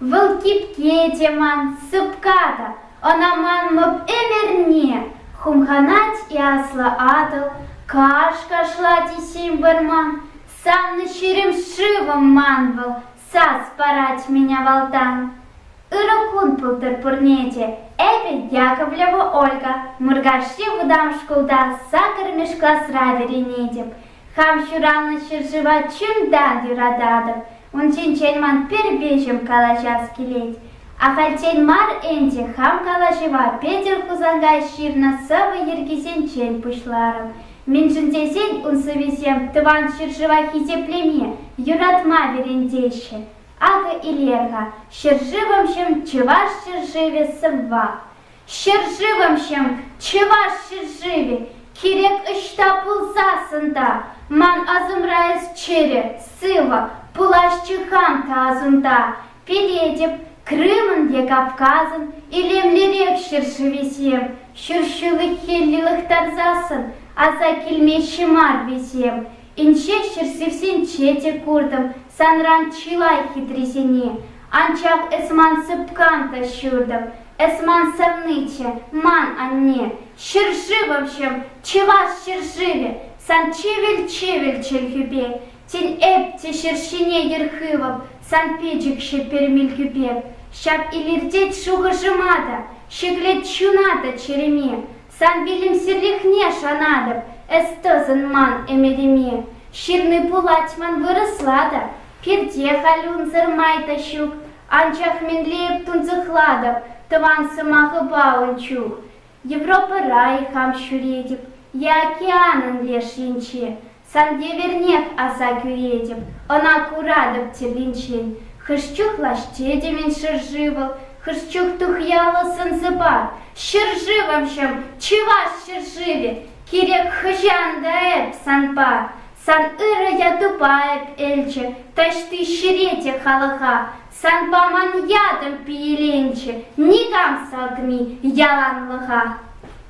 Вӑл кипке те ман, сыпка та, ӑна манмӑп ӗмӗрне. Хумханать и аслӑ Атӑл, каш кашлать и ҫим вӑрман. Саннӑ ҫирӗм шывӑм ман вӑл, сас парать мӗн авалтан. Ырӑ кун пултӑр пурне те, эпӗ Яковлева Ольга. Муркашри вӑтам шкулта сакӑрмӗш класра вӗренетӗп. Хам ҫуралнӑ ҫӗршыва чунтан юрататӑп. Ун ҫинчен ман пӗр виҫӗм калаҫас килет. Ахальтен мар ӗнтӗ хам калаҫӑва Петӗр Хусанкай ҫырнӑ сӑвӑ йӗркисенчен пуҫларӑм. Мӗншӗн тесен ун сӑвисем тӑван ҫӗршыва хисеплеме, юратма вӗрентеҫҫӗ. Акӑ илер-ха ҫӗршывӑмҫӑм Чӑваш ҫӗршывӗ сӑвва. Ҫӗршывӑмҫӑм, Чӑваш ҫӗршывӗ, кирек ӑҫта пулсассӑн та, ман асӑмра эс чӗрӗ, сывӑ, пуласчӗ хам та асунта. Пӗлетӗп, Крымӑн те Кавказӑн илемлӗрех ҫӗршывӗсем, ҫӗршывлӑххелле лӑхтарсассӑн аса килмеҫҫӗ мар вӗсем. Инҫе ҫӗршывсенче те куртӑм санран чылай хитрисене, анчах эс ман сыпкан та ҫуртӑм, Эс ман савниче, ман анне, ҫӗршывӑмҫӑм, чӑваш ҫӗршывӗ, сан чӗвӗл-чӗвӗл чӗлхӳпе, тен, эп те ҫӗр ҫине йӗр хывӑп сан пӗчӗкҫӗ пермилкӳпе, ҫав илӗртет шухӑшӑма та, ҫӗклет чуна та чӗреме, сан вилӗмсӗрлӗхне шанатӑп эс тӑсӑн ман ӗмӗтӗме. Ҫырни пулать ман вырӑсла та, пирте халь унсӑр май та ҫук, Анчах мӗнле эп тунсӑхлатӑп тӑван сӑмахӑпа ун чух, Европӑра-и хам ҫӳретӗп е океанӑн леш енче, сан евӗрнех аса кӳретӗп, ӑна куратӑп тепринчен. Хӑш чух лаҫ тетӗмӗн ҫӗршывӑл, хӑш чух тухьяллӑ сӑн-сӑпа. Ҫӗршывӑмҫӑм, чӑваш ҫӗршывӗ, кирек хӑҫан та эп санпа, Сан ырӑ ятупа эп элчӗ, Таҫти ҫӗре те халӑха Сан паман ятӑм пиеленчӗ, Никам салтми яланлӑха.